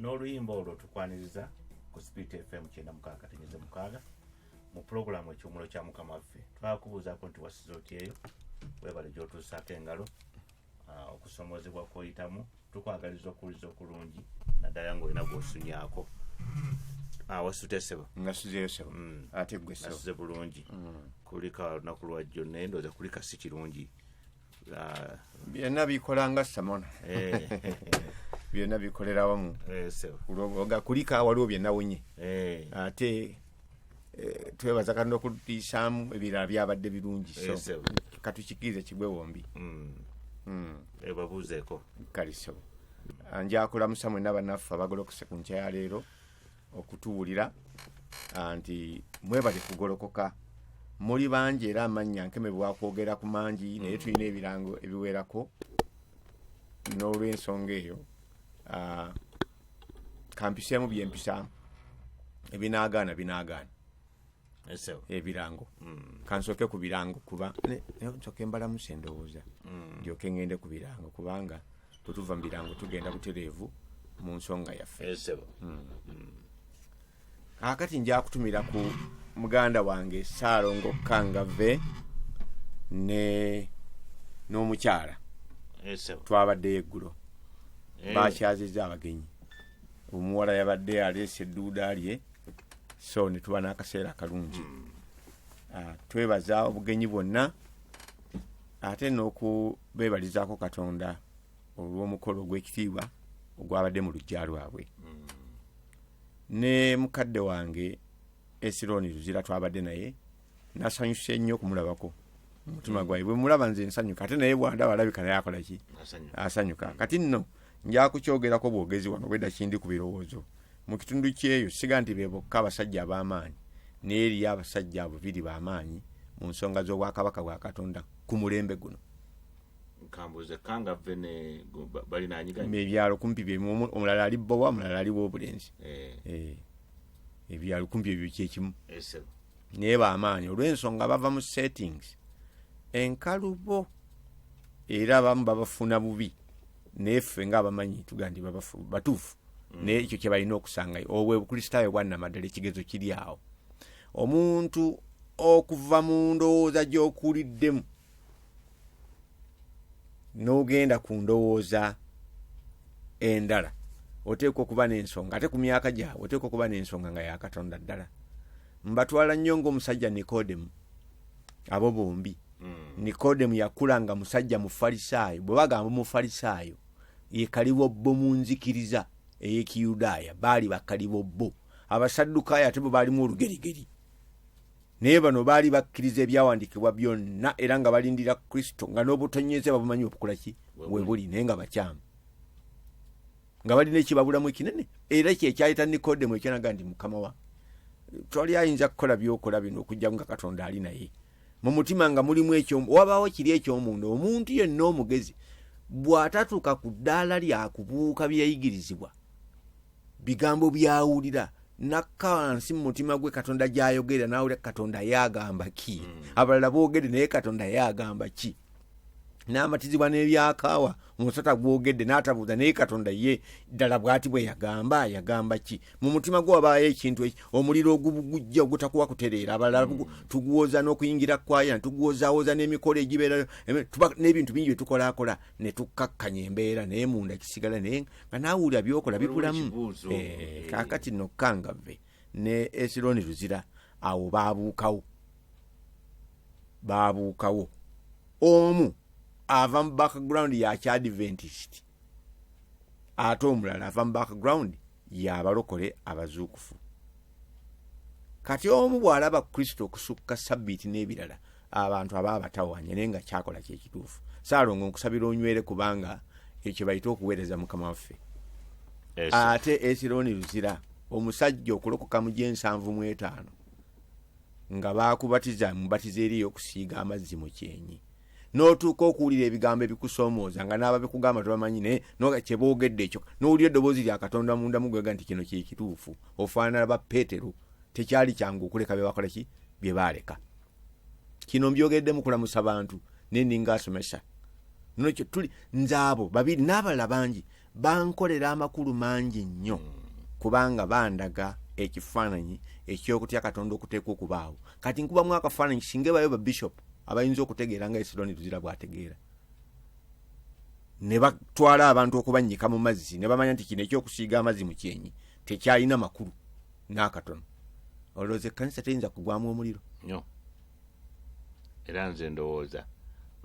n'oluyimba olwo tukwaniriza ku spirit fm kyenda mukaaga tenyeze mukaaga mu pulogulaamu ekiwumulo kya mukama waffe twakubuuzaako nti wasiza otyeyo webale gyotuusaako engalo ah, okusomozebwa kwoyitamu tukwagaliza okuwuliza okulungi naddala ngaolina gwosunyako ah, wasutesebo ngasuzeyo sebo mm. ate gwe sebo asuze bulungi mm. kulika lunaku lwajjo naye ndooza kulika si kirungi ah, byonna bikolanga samona eh, byonna bikolera wamu eh, sebo. Olwo nga kulika waliwo byenawonye Eh, ate Eh, twebaza katonda okutuyisaamu ebirala byabadde birungi so Yes, sir. katukikirize kigwe wombi Mm. ebabuuzeeko kaliso Ah, njakulamusa mwena banaffe abagolokose ku nkya ya leero okutuwulira ah, nti mwebale kugolokoka muli bangi era amannya nkemebwa kwogera ku mangi naye tulina ebirango ebiwerako n'olwensonga eyo ah, kampiseemu byempisaamu ebinaagaana binaagaana Esewo. ebirango Mm. kansooke ku birango kuba ne- ne- nsooke embalamusa endowooza Mm. ndyoke ngende ku birango kubanga bwe tuva mu birango tugenda butereevu mu nsonga yaffe Esewo. kakati nja kutumira ku muganda wange saalongo kangave ne n'omukyala esebo twabaddeyo eggulo Eh. bakyazizza abagenyi omuwala yabadde aleese edduuda lye so ne tuba n'akaseera akalungi Ah, twebaza obugenyi bwonna ate n'okubeebalizaako katonda olw'omukolo ogw'ekitiibwa ogwabadde mu luggya lwabwe ne mukadde wange esironi luzira twabadde naye nasanyuse nnyo okumulabako omutima mm. gwaye bwemulaba nze nsanyuka ate naye bwandaba alabika naye akolaki asanyuka mm. kati nno njakukyogerako bwogezi wano bwedda kindi ku birowoozo mu kitundu kyeyo siga nti be bokka abasajja ab'amaanyi naye eriyo abasajja abubiri b'amaanyi mu nsonga z'obwakabaka bwa katonda ku mulembe guno nkambuze kanga vve ne gu- ba- balinanyiganye ebyalo kumpi byemu omu- omulala ali bbowa omulala ali wobulenzi Eh, Eh, ebyalo kumpi ebyo kyekimu esebo naye bamaanyi olw'ensonga bava mu settings enkalubo era abamu babafuna bubi naye ffe nga abamanyi tuga nti babafu- batuufu naye ekyo kye balina okusangayo obwo obukristaayo bwannamaddala ekigezo kiri awo omuntu okuva mu ndowooza gy'okuliddemu n'ogenda ku ndowooza endala oteekwa okuba n'ensonga ate ku myaka gyabwe oteekwa okuba n'ensonga nga yakatonda ddala mbatwala nnyo ng'omusajja nikodemu abo bombi Mm. nikodemu yakula nga musajja mufalisaayo bwe bagamba omufalisaayo ye kalibobbo mu nzikiriza ey'ekiyudaaya baali bakalibobbo abasaddukayo ate bwe baalimu olugerigeri naye bano baali bakkiriza ebyawandiikibwa byonna era nga balindira kristo nga n'obutonyeze babumanyi obukula ki we buli naye nga bakyamu nga balina ekibabulamu ekinene era kyekyayita nikodemu ekyanaga nti mukama wa twali ayinza kukola byokola bino okujjaku nga katonda ali naye mu mutima nga mulimu ekyo wabaawo kiri ekyomunda omuntu yenna omugezi bw'atatuuka ku ddaala lyakubuuka byeyayigirizibwa bigambo byawulira nakka wansi mu mutima gwe katonda gyayogera nawulira katonda ye agamba ki mm. abalala boogedde naye katonda ye agamba ki n'amatizibwa n'ebyakaawa omusota gwogedde n'atabuuza naye katonda ye ddala bwati bwe yagamba yagamba ki mu mutima gwe wabaayo ekintu omuliro ogugujja ogutakuwa kutereera abalala mm. tuguwoza n'okuyingira kwaya tuguwozawoza n'emikolo egibeerayo n'ebintu bingi bye tukolakola ne tukkakkanya embeera naye munda kisigala naye nga naawe wulira byokola bikulamu eh, kakati no kangave ne esironi luzira awo babuukawo babuukawo omu ava mu background ya kyadventist ate omulala ava mu background yabalokole abazuukufu kati omu bw'alaba kristo okusukka sabbiiti n'ebirala abantu aba abatawanye naye nga kyakola kyekituufu saalongo nkusabira onywere kubanga ekyo bayita okuweereza mukama waffe ate esironi luzira omusajja okulokoka mu gyensanvu mu etaano nga baakubatiza mubatiza eri ey'okusiiga amazzi mu kyenyi n'otuuka okuwulira ebigambo ebikusoomooza nga n'ababikugamba tebamanyi naye noga kye boogedde ekyo n'owulira eddoboozi lya katonda munda mugwega nti kino kyekituufu ofaanana ba peetero tekyali kyangu okuleka bye bakola ki bye baaleka kino mbyogedde mukulamusa bantu naye ninga asomesa nono kyetuli nze abo babiri n'abalala bangi bankolera amakulu mangi nnyo kubanga bandaga ekifaananyi ekyokutya katonda okuteekwa okubaawo kati nkubamu akafaananyi singa ebayo babishop abayinza okutegeera nga esironi tuzira bwategeera ne batwala abantu okubannyika mu mazzi ne bamanya nti kino ekyokusiiga amazzi mu kyenyi tekyalina makulu n'akatono olowooza ekkanisa teyinza kugwamu omuliro nyo era nze ndowooza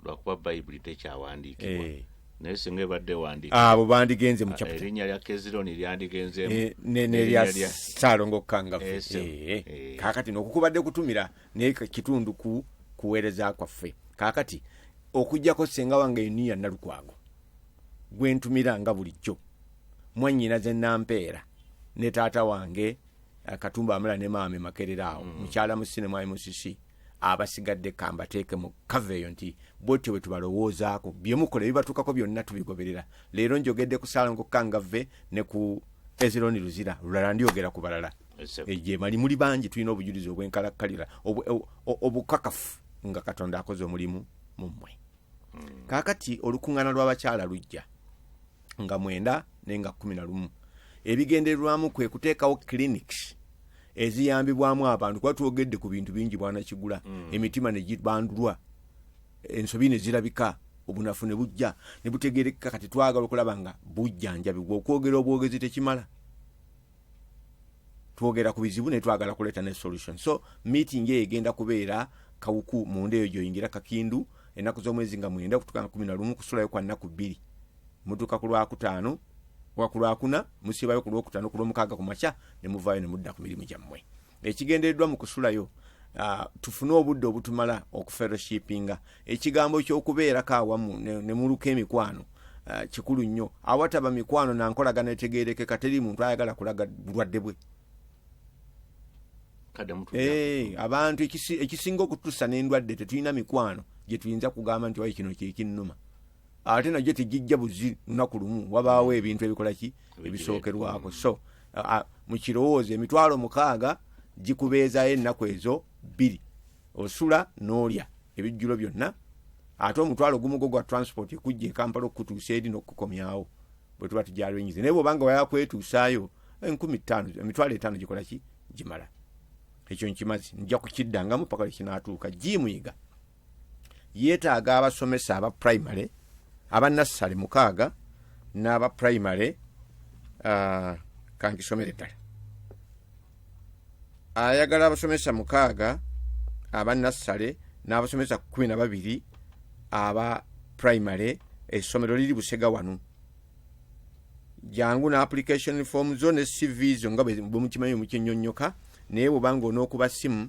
lwakuba bayibuli tekyawandiikibwa eh. naye singa ebadde wandiika abo bandigenze mu ah, erinnya lya kezironi lyandigenzeemu eh, nerya salongo kangavu eh, kakati nokukubadde kutumira naye kitundu ku kuweereza kwaffe kakati okujjako senga wange eniya nalukwago gwe ntumira nga bulijjo mwannyinaze nampeera ne taata wange eh, katumba amala ne maame makerera awo mm. mukyala musine mwali musisi abasigadde kambateeke mu kava eyo nti bwetyo bwe tubalowoozaako byemukola ebibatuukako byonna tubigoberera leero njogedde ku salongo kangave ne ku ezironi luzira lulala ndyogera ku balala gyemali muli bangi tulina obujulizi obwenkalakkalira obukakafu nga katonda akoze omulimu mu mmwe kaakati olukuŋŋaana lw'abakyala lujja nga mwenda naye nga kumi na lumu ebigendererwamu kwe kuteekawo clinics eziyambibwamu abantu kuba twogedde ku bintu bingi bwanakigula emitima ne gibandulwa ensobi ne zirabika obunafu ne bujja ne butegerekeka kati twagala okulaba nga bujjanjabibwa okwogera obwogezi tekimala twogera ku bizibu naye twagala kuleeta ne solution so meeting eyo egenda kubeera kawuku munda eyo gyoyingira kakindu ennaku z'omwezi nga mwenda okutuka nga kumi na lumu kusulayo kwa nnaku bbiri mutuuka ku lwakutaano wa ku lwakuna musibayo ku lwokutaano ku lwomukaaga ku makya ne muvaayo ne mudda ku mirimu gyammwe ekigendereddwa mu kusulayo Uh, tufune obudde obutumala okuferoshipinga ekigambo kyokubeerako awamu nemuluka ne emikwano uh, kikulu nnyo awataba mikwano nankolagana etegerekeka teri muntu ayagala kulaga bulwadde bwe Eh, abantu ekisinga okutusa nendwadde tetulina mikwano gyetuyinza kugamba nti wayi kino kyekinuma ate nagyo tegijja buzi lunaku lumu wabaawo mm. ebintu ebikola ki ebisookerwako mm. so mu kirowoozo emitwalo mukaaga gikubeezayo ennaku ezo bbiri osula n'olya ebijjulo byonna ate omutwalo gumu gwo gwa transport ekujja ekampala okukutuusa eri n'okukukomyawo bwe tuba tujalenyize naye bwobanga wayakwetuusaayo enkumi ttaano emitwalo etaano gikola ki gimala ekyo nkimazi nja kukiddangamu paka lwekinatuuka jimuyiga yeetaaga abasomesa aba primary aba nassale mukaaga n'aba primary uh, kankisomere ddala ayagala abasomesa mukaaga aba nassale n'abasomesa kumi na babiri aba primary essomero liri busega wano jangu ne application form zo ne cv zo nga bwemukimanyi mukyenyonyoka naye bwobanga onookuba simu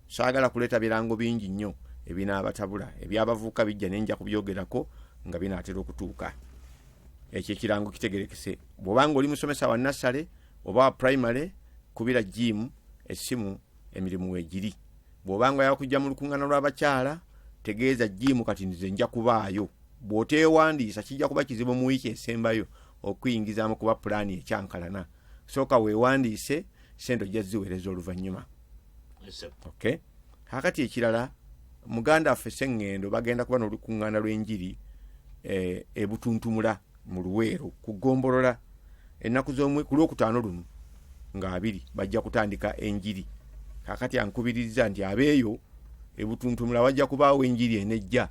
saagala kuleeta birango bingi nnyo ebinaabatabula ebyabavuuka bijja ne nja kubyogerako nga binaatera okutuuka ekyo ekirango kitegerekese bw'obanga oli musomesa wa nassale oba wa primary kubira jiimu essimu emirimu weegiri bw'obanga yakujja mu lukuŋŋaana lw'abakyala tegeeza jiimu kati nze nja kubaayo bw'oteewandiisa kijja kuba kizibu mu wiiki esembayo okuyingizaamu kuba pulaani ekyankalana sooka weewandiise sente ojja ziweereza oluvannyuma okay kakati ekirala muganda waffe seŋŋendo bagenda kuba n'olukuŋŋaana lw'enjiri eh, ebutuntumula mu luweero ku ggombolola ennaku z'omwe ku lwokutaano luno ng'abiri bajja kutandika enjiri kakati ankubiriza nti abeeyo ebutuntumula wajja kubaawo enjiri enejja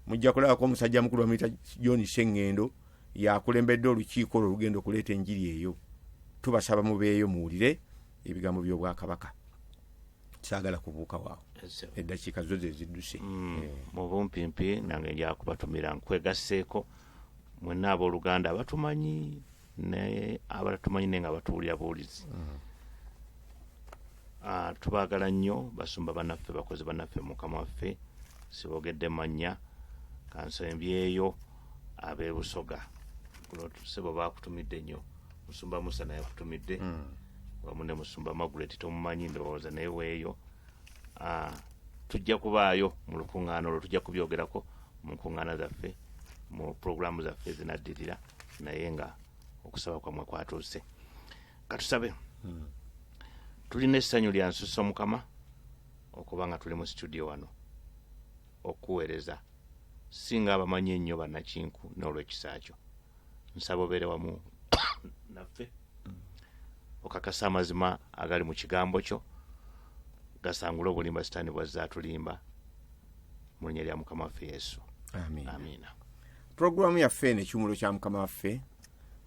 mujja kulabako omusajja mukulu bamuyita john seŋŋendo yakulembedde olukiiko olwo olugenda okuleeta enjiri eyo tubasaba mubeeyo muwulire ebigambo by'obwakabaka saagala kubuuka waawo eddakiika zo ze zidduse mm, eh. mu bumpimpi nange njakubatumira nkwegasseeko mwenna abooluganda abatumanyi naye abatatumanyi naye nga batuwulira buwulizi mm. ah, tubaagala nnyo basumba banaffe bakozi banaffe mukama waffe sibogedde mannya kansembyeyo abebusoga kuno sebo bakutumidde nnyo musumba musa naye akutumidde hmm. wamu ne musumba magret tomumanyi ndowooza naye weeyo ah, tujja kubaayo mu lukuŋŋaana olwo tujja kubyogerako mu nkuŋŋaana zaffe mu pulogulaamu zaffe zinaddirira naye nga okusaba kwamwe kwatuuse katusabe hmm. tulina essanyu lya nsusa mukama okuba nga tuli mu situdiyo wano okukuweereza si nga abamanyi ennyo bannakinku n'olw'ekisa kyo nsaba obeere wamu naffe okakasa amazima agali mu kigambo kyo gasangule obulimba sitaani bwazze atulimba mu linnya lya mukama waffe yesu amiina pulogulaamu yaffe eno ekiwumulo kya mukama waffe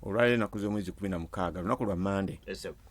olwaleero enaku z'omwezi kumi na mukaaga lunaku lwa mande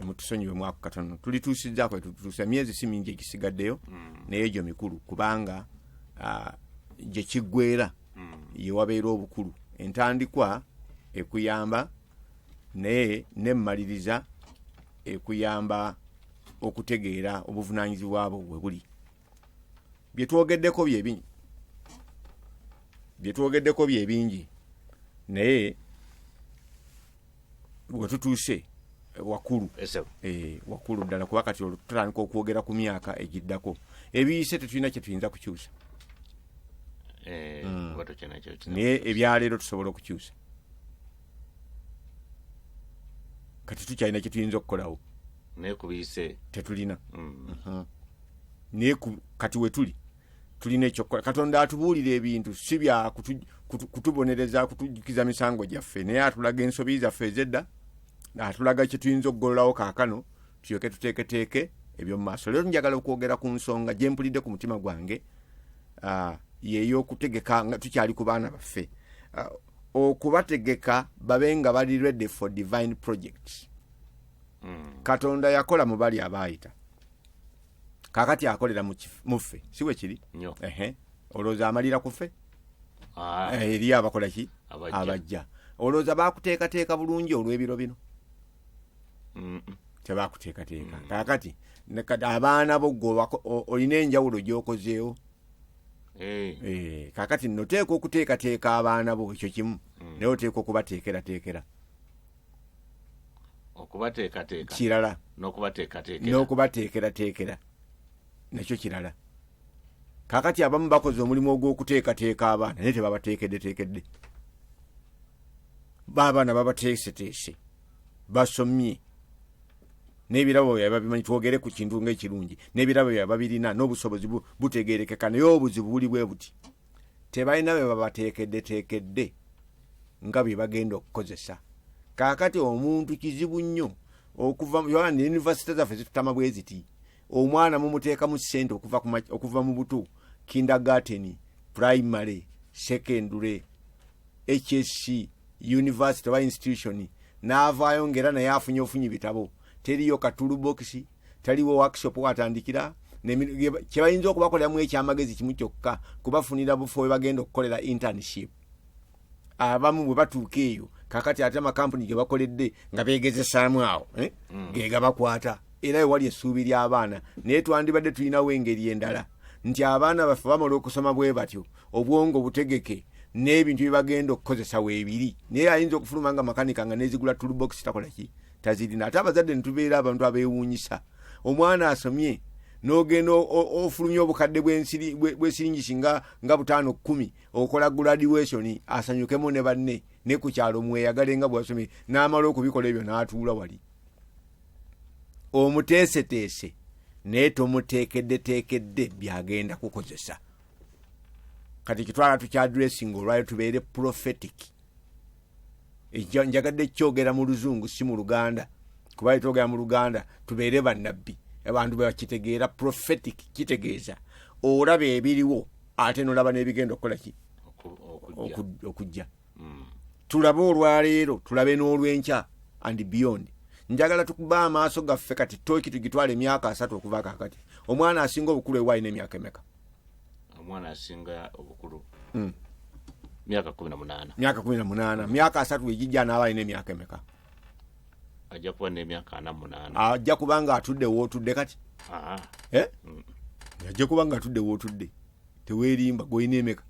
emutusonyiwe mwako katono tulituusizaako etutuusa emyezi si mingi egisigaddeyo mm. naye egyo mikulu kubanga ah, gye kiggwera mm. ye wabeera obukulu entandikwa ekuyamba naye nemmaliriza ekuyamba okutegeera obuvunaanyizibwa bwo we buli bye twogeddeko byebingi bye twogeddeko byebingi naye wetutuuse eh, wakulu eh, wakulu ddala kuba kati olututandika okwogera ku myaka egiddako ebiyise tetulina kyetuyinza kukyusa eh, mm. naye ebyaleero tusobola okukyusa kati tukyalina kyetuyinza okukolawo naye kubiyise tetulina mm. uh-huh. naye kati wetuli tulina ekyokukola katonda atubuulira ebintu si bya kutubonereza kutujjukiza misango gyaffe naye atulaga ensobi zaffe ezedda atulaga kyetuyinza okugololawo kaakano tulyoke tuteeketeeke ebyomu maaso leero njagala okwogera ku nsonga gye mpulidde ku mutima gwange yeyokutegeka nga tukyali ku baana baffe okubategeka babe nga bali ready for divine project hmm. katonda yakola mu bali abaayita kakati akolera mu kif- mu ffe si bwe kiri Nyo. Ehe. olowooza amalira ku ffe Ah, Eh, eriyo abakola ki Abajja. abajja olowooza bakuteekateeka bulungi olw'ebiro bino mm, mm. tebakuteekateeka kakati ne- kati abaana bo gwe obako- o- olina enjawulo gyokozeewo Eh, Eh, kakati noteeka okuteekateeka abaana bo ekyo kimu naye oteeka okubateekerateekera okubateekateeka kirala n'okubateekateekera n'okubateekerateekera nakyo kirala kakati abamu bakoze omulimu ogw'okuteekateeka abaana naye tebabateekeddeteekedde baabaana babateeseteese basomye n'ebirabo byabwe babimanyi twogere ku kintu ng'ekirungi n'ebirabo byabwe babirina n'obusobozi bu- butegeerekeka naye obuzibu buli bwe buti tebalina bye babateekeddeteekedde nga bye bagenda okukozesa kaakati omuntu kizibu nnyo okuva yunivasite zaffe zitutama bwe ziti omwana mumuteekamu ssente okuva mu butu kindergarteni primary secondary hsc university oba institution n'avaayo ngaera naye afunye ofunye bitabo teriyo katulubokisi taliwo workshop watandikira kyebayinza okubakoleramu ekyamagezi kimu kyokka kubafunira bufo webagenda okukolera internship abamu bwe batuuka eyo kakati ate amakampuni gebakoledde nga begezesaamu awo eh? mm. gegabakwata era ewali essuubi ly'abaana naye twandibadde tulinawo engeri endala nti abaana baffe bamala okusoma bwe batyo obwongo butegeke n'ebintu byebagenda okukozesa weebiri naye ayinza okufuluma nga makanika nga nezigula tulubokisi takolaki tazirina ate abazadde netubeera abantu abewuunyisa omwana asomye nogenda ofulumya obukadde bwesiringisi nga nga butaano kumi okola graduation asanyukemu ne banne ne ku kyalo mweyagale nga bwasomye n'amala okubikola ebyo n'atuula wali omuteeseteese naye tomuteekeddeteekedde byagenda kukozesa kati kitwala tukyadressinga olwayo tubeere prophetic ekyo njagadde kyogera mu luzungu si mu luganda kuba etwogera mu luganda tubeere bannabbi abantu bwebakitegeera prophetic kitegeeza olaba ebiriwo ate nolaba n'ebigenda okukola ki okujja hmm. tulabe olwaleero tulabe n'olwenkya and beyond njagala tukuba amaaso gaffe kati toki tugitwala emyaka asatu okuva kakati omwana asinga obukulu ewaayi n'emyaka emeka omwana asinga obukulu mm. myaka kumi na munaana myaka kumi na munaana myaka asatu egijja anaaba alina emyaka emeka ajja kuba nemyaka ana munaana ajja kuba nga atudde wootudde kati ah. eh? mm. ajja kuba nga atudde wootudde teweerimba gwolina emeka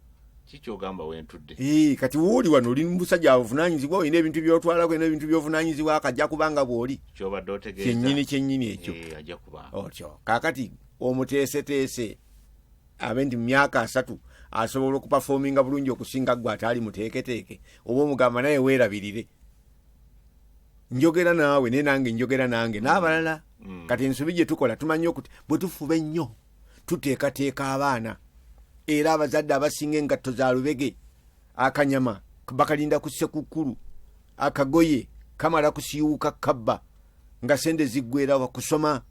kikyogamba wentudde eh, kati wooli wano oli musajja avunanyizibwa olina ebintu byotwalako olina ebintu byovunanyizibwa akajja kuba nga bwoli kyobadde otegeeza kyenyini kyenyini ekyo eh, ajja kuba otyo kakati omuteeseteese abe nti mu myaka asatu asobola okupafominga bulungi okusinga gwe ataali muteeketeeke oba omugamba naye weerabirire njogera naawe naye nange njogera nange n'abalala mm. kati ensobi gye tukola tumanyi okuti bwe tufuba ennyo tuteekateeka abaana era abazadde abasinga engatto za lubege akanyama bakalinda ku ssekukkulu akagoye kamala kusiiwuka kabba nga sente ziggwerawa kusoma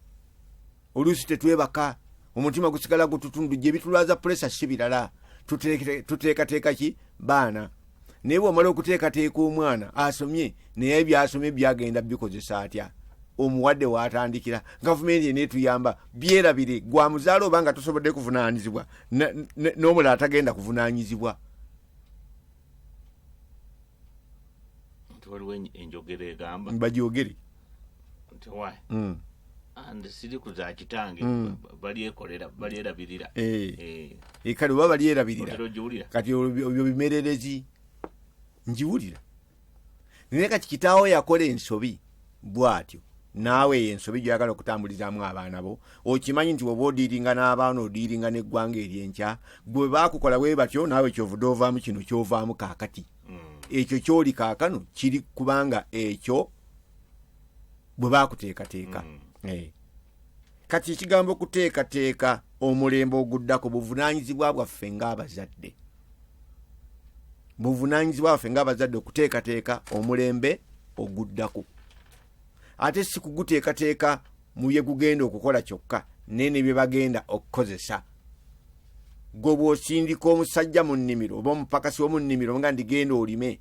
oluusi tetwebaka omutima gusigala gututundu gye bitulwaza pulesa si birala tuteekateeka ki baana naye bwomala okuteekateeka omwana asomye naye byasomye byagenda bikozesa atya omuwadde watandikira gavumenti enetuyamba byerabire gwamuzaala oba nga tosobodde kuvunanyizibwa n'omulala tagenda kuvunanyizibwa nti waliwo en- enjogera egamba bagyogere nti why Mm. and siri ku za kitange Mm. ba- balyekolera balyerabirira Eh, Eh, eh, kale oba balyerabirira otera ogiwulira kati olwo obyo bimererezi ngiwulira naye kati kitaawo yakola ensobi bwatyo naawe eyo ensobi gyoyagala okutambulizaamu abaana bo okimanyi nti oba odiiringa n'abaana odiiringa n'eggwanga eryenkya gwe baakukola bwe batyo naawe kyovude ovaamu kino kyovaamu kaakati mm. ekyo kyoli kaakano kiri kubanga ekyo bwe baakuteekateeka mm. eh. kati ekigambo okuteekateeka omulembe oguddako buvunaanyizibwa bwaffe ng'abazadde buvunanyizibwa baffe ngaabazadde okuteekateeka omulembe oguddako ate si kuguteekateeka mu bye gugenda okukola kyokka naye ne bye bagenda okukozesa gwe bw'osindika omusajja mu nnimiro oba omupakasi w'omu nnimiro nga ndigenda olime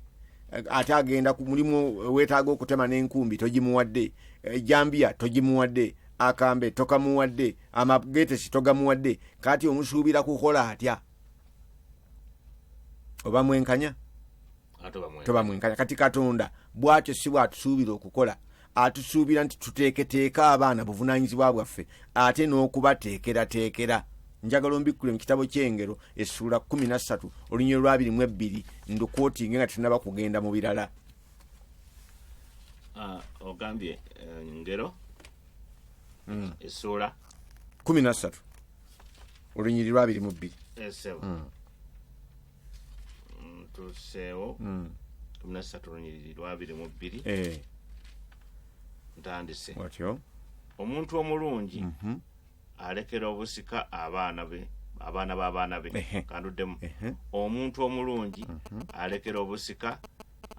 ate agenda ku mulimu weetaaga okutema n'enkumbi togimuwadde ejambiya eh, togimuwadde akambe tokamuwadde amagetesi togamuwadde kati omusuubira kukola atya oba mwenkanya toba mwenkanya kati katonda bwatyo si bwatusuubira okukola atusuubira nti tuteeketeeke abaana buvunaanyizibwa bwaffe ate n'okubateekerateekera njagala ombikkule mu kitabo ky'engero essuula 13 olunyiro lwabiri mu ebbiri ndukwotinge nga tunaba kugenda mu birala ah, ogambye eh, ngero hmm. essuula 13 olunyiri lwabiri mu bbiri esebo eh, mm. mm, tuseewo mm. kumi nasatu olunyiriri lwabiri mu bbiri eh. ntandise watyo omuntu omulungi mhm. alekera obusika abaana be abaana b'abaana be kanduddemu omuntu omulungi mhm. alekera obusika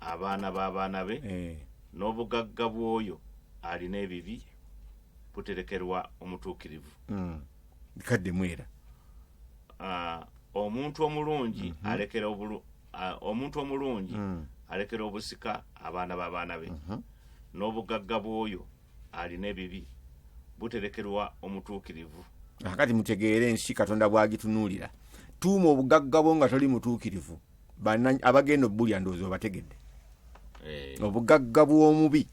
abaana b'abaana be eh. n'obugagga bw'oyo alina ebibi buterekerwa omutuukirivu mm. bikaddemu era ah, omuntu omulungi mhm. alekera obulu ah, omuntu omulungi mm. alekera obusika abaana b'abaana be mhm. n'obugagga bw'oyo alina ebibi buterekerwa omutuukirivu akati mutegeere ensi katonda bw'agitunuulira tuuma obugagga bwo nga toli mutuukirivu bana- abagenda obbulya ndowooza obategedde Eh, obugagga bw'omubi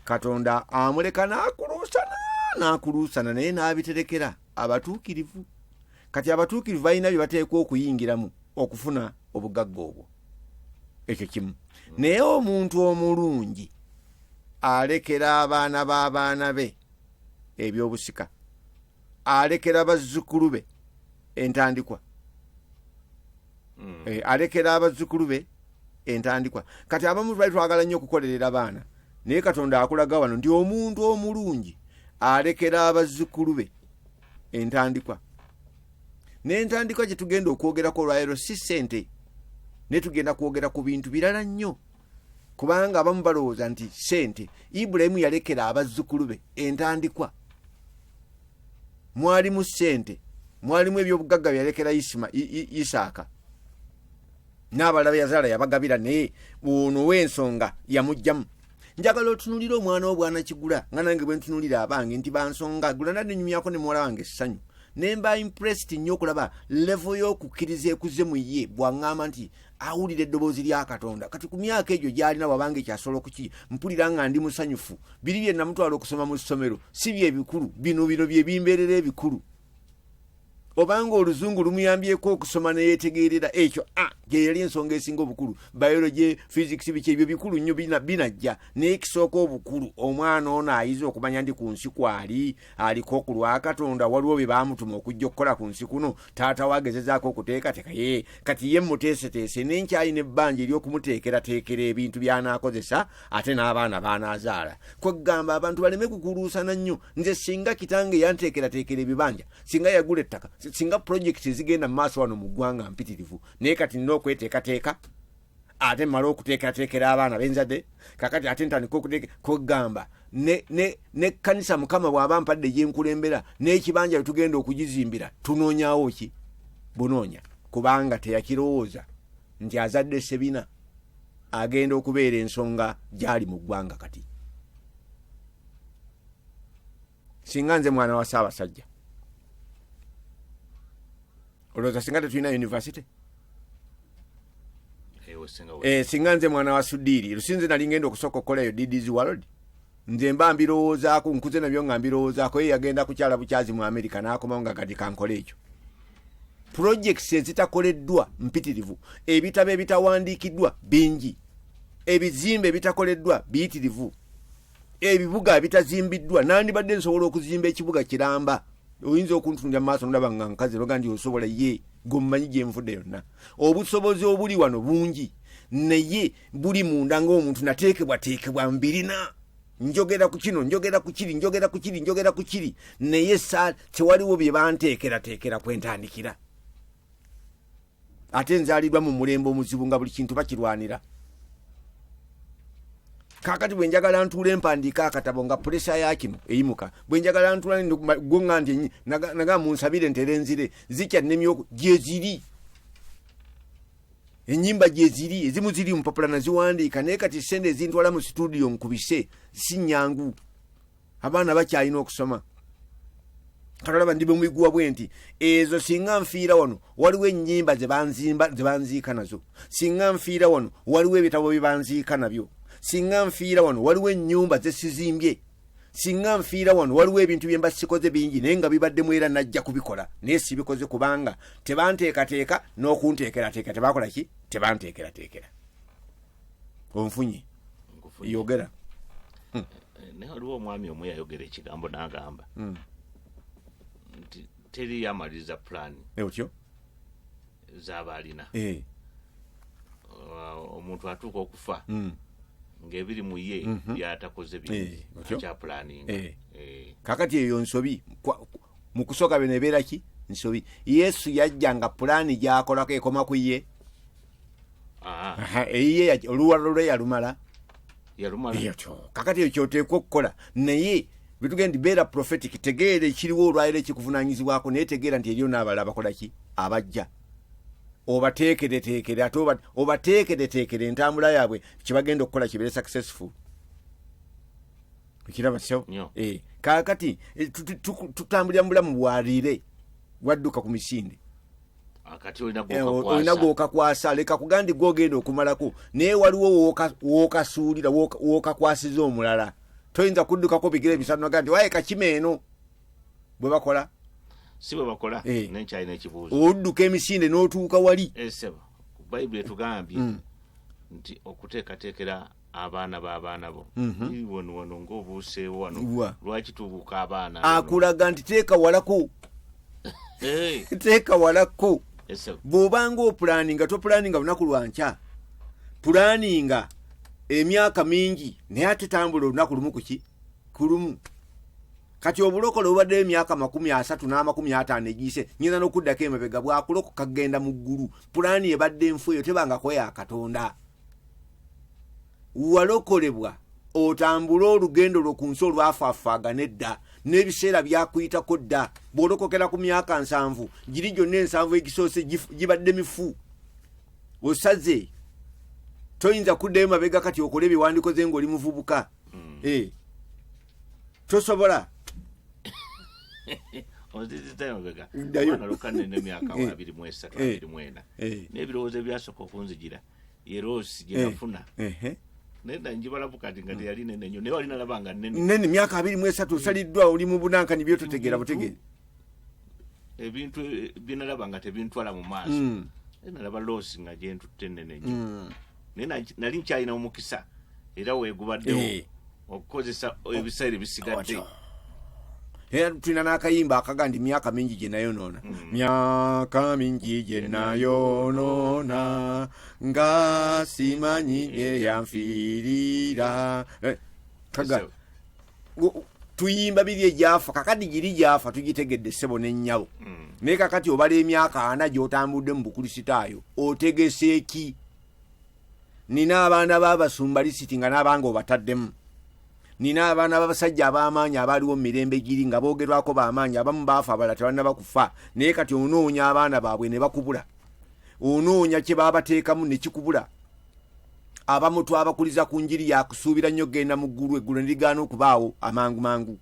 katonda amuleka n'akuluusana n'akuluusana naye n'abiterekera abatuukirivu kati abatuukirivu balina bye bateekwa okuyingiramu okufuna obugagga obwo ekyo kimu naye omuntu omulungi alekera abaana b'abaana be ebyobusika alekera bazzukulu be entandikwa Eh, alekera abazzukulu be entandikwa kati abamu twali twagala nnyo okukolerera abaana naye katonda akulaga wano nti omuntu omulungi alekera abazzukulu be entandikwa n'entandikwa gye tugenda okwogerako olwaleero si ssente naye tugenda kwogera ku bintu birala nnyo kubanga abamu balowooza nti sente ibulayimu yalekera abazzukulu be entandikwa mwalimu sente mwalimu ebyobugagga byeyalekera isaaka n'abalala beyazaala yabagabira naye ono ow'ensonga yamugjamu njagala otunulira omwana wo bwana kigula nga nange bwe ntunulira abange nti bansonga gula nanenyumyako ne muwala wange essanyu ne mba impressed nnyo okulaba levo y'okukkiriza ekuze mu ye bwaŋŋamba nti awulira eddoboozi lya katonda kati ku myaka egyo gyalina wabanga ekyasobola okuki mpulira nga ndi musanyufu biri bye namutwala okusoma mu ssomero si byebikulu bino bino byebimbeerera ebikulu obanga oluzungu lumuyambyeko okusoma neyetegeerera ekyo a ah, gyeyali ensonga esinga obukulu biology physics biki ebyo bikulu nnyo binajja naye kisooka obukulu omwana ono ayiza okumanya ndi ku nsi kwali aliko ku lwa katonda waliwo bye baamutuma okujja okukola ku nsi kuno taata wagezezaako okuteekateeka ye kati ye muteeseteese nenkyayi nebbanja ery'okumuteekerateekera ebintu by'anaakozesa ate n'abaana baanaazaala kwegamba abantu baleme kukuluusana nnyo nze singa kitange yanteekerateekera ebibanja singa yagula ettaka singa pulojekiti ezigenda mu maaso wano mu ggwanga mpitirivu naye kati nina okweteekateeka ate mmale okuteekateekera abaana benzadde kakati ate ntandika okugamba nekkanisa mukama bw'aba mpadde gyenkulembera n'ekibanja bwe tugenda okugizimbira tunoonyawo ki bunoonya kubanga teyakirowooza nti azadde sebina agenda okubeera ensonga gyali mu ggwanga kati singa nze mwana wa saabasajja olowooza singa tetulina univesity Eh, osinga wa- Eh, singa nze mwana wa sudiiri lusinze nali ngenda okusooka okukola eyo ddz world nze mba mbirowoozaako nkuze nabyo nga mbirowoozaako ye yagenda kukyala bukyazi mu amerika n'akomawo nga kati kankole ekyo purojekisi ezitakoleddwa mpitirivu ebitabo ebitawandiikiddwa bingi ebizimbe ebitakoleddwa biyitirivu ebibuga ebitazimbiddwa nandibadde nsobola okuzimba ekibuga kiramba oyinza okuntunja maaso ndaba nga nkazi loga nti osobola ye gwemumanyi gyenvude yonna obusobozi obuli wano bungi naye buli munda ngaomuntu nateekebwateekebwa mbirina njogera ku kino njogera ku kiri njogera ku kiri njogera ku kiri naye sa tewaliwo bye banteekerateekera kwentandikira ate nzalidwa mu mulembe omuzibu nga buli kintu bakirwanira kakati bwenjagala ntuula empandiika akatabo nga pulesa yakino eyimuka bwenjagala ntuulagwonga nti naga munsabire ntere nzire zikya nemyoko gyeziri enyimba gyeziri ezimu ziri mupapula naziwandiika naye kati sente ezintwala mu situdiyo nkubise sinyangu abaana bakyalina okusoma katolaba ndi bemwiguwa bwe nti ezo singa nfiira wano waliwo ennyimba zebanzimba zebanziika nazo singa nfiira wano waliwo ebitabo byebanziika nabyo singa nfiira wano waliwo ennyumba zesizimbye singa nfiira wano waliwo ebintu byemba sikoze bingi naye nga bibaddemu era najja kubikola naye sibikoze kubanga tebanteekateeka n'okunteekerateeka tebakola ki tebanteekerateekera onfunye yogera eh, naye waliwo omwami omu yayogera ekigambo nagamba hmm. nti teri yamaliriza pulaani eh, otyo zaaba alina eh. uh, omuntu atuuka okufa hmm. ngaebiri mu ye mhm. byatakoze byakyapulaninga kakati eyo nsobi mu kusooka bino ebeera ki nsobi yesu yajja nga pulaani gyakolako ekoma ku ye Ah, Aha, eyiye ya- oluwalo lwe yalumala yalumala Eyo kyo. kakati ekyo kyoteekwa okukola naye bitugenda nti beera prophetic tegeera ekiriwo olwaliro ekikuvunanyizibwako naye tegeera nti eriyo n'abala abakola ki abajja obateekereteekere ate oba- obateekereteekere entambula yaabwe kyebagenda okukola kibeere successful okiraba so Nyo. Eh, kakati eh, tu- tu- tu- tutambulira mu bulamu bwaliire wadduka ku misinde eh, olina gwokakwasa leka kugandi gwogenda okumalako naye waliwo wokasuulira wokakwasiza omulala toyinza kuddukako bigere ebisanu naga nti waye kakima eno bwe bakola si bwe bakola eh. nenkyalina ekibuuzo odduka emisinde n'otuuka wali eh, bayibuli etugambye mm. nti okuteekateekera abaana b'abaana bo Ii, wano wano ng'obuuseewo wano Mhm. Wa. lwaki tubuuka abaana akulaga nti teeka walako Eh, teeka walako ese- bw'obanga opulaninga topulaninga lunaku lwa nkya pulaninga emyaka mingi naye ate tambula olunaku lumu kuki ku lumu kati obulokole obadde emyaka makumi asatu n'amakumi ataano egiyise nyinza n'okuddako emabega bwakulokoka kugenda mu ggulu pulaani ebadde enfu eyo tebangako ya katonda walokolebwa otambule olugendo lwo ku nsi olwafaaffaagana edda n'ebiseera byakuyitako dda bw'olokokera ku myaka nsanvu giri gyonna ensanvu egisoose gibadde mifu osaze toyinza kuddayo mabega kati okola ebiwandikoze ng'oli muvubuka hmm. eh. tosobola ozizitayogegaokanene emyaka abiri mwesatu abiri mwena n'ebirowoozo ebyasooka okunzijira yeroosi gye nafuna eh, eh, eh. naye dda njibalabu kati nga teyali nene nyo naye wali nalaba nga nene nene myaka abiri mu esatu osaliddwa oli mu bunankani byototegeera butegeere ebintu byenalaba nga tebintwala mu maaso mm. nalaba loosi nga gyentutte nene nyo mm. naye nali nkyalina omukisa era wegubaddewo okukozesa ebiseera ebisigadde era tulina n'akayimba akaga nti myaka mingi gye nayonoona hmm. myaka mingi gye nayonoona nga simanyi eyanfiirira eh, kaga tuyimba biri egyafa kakati giri gyafa tugitegedde ssebo n'ennyabo hmm. naye kakati obala emyaka ana gy'otambudde mu bukulisitaayo otegese ki nina abaana babasumba lisiti nga n'abanga obataddemu nina abaana babasajja ab'amaanyi abaaliwo mu mirembe giri nga boogerwako b'amaanyi abamu baafa abala tebannaba kufa naye kati onoonya abaana baabwe ne bakubula onoonya kye baabateekamu ne kikubula abamu twabakuliza ku njiri yakusuubira nnyo kugenda mu ggulu eggulu ne ligaana okubaawo amangu mangu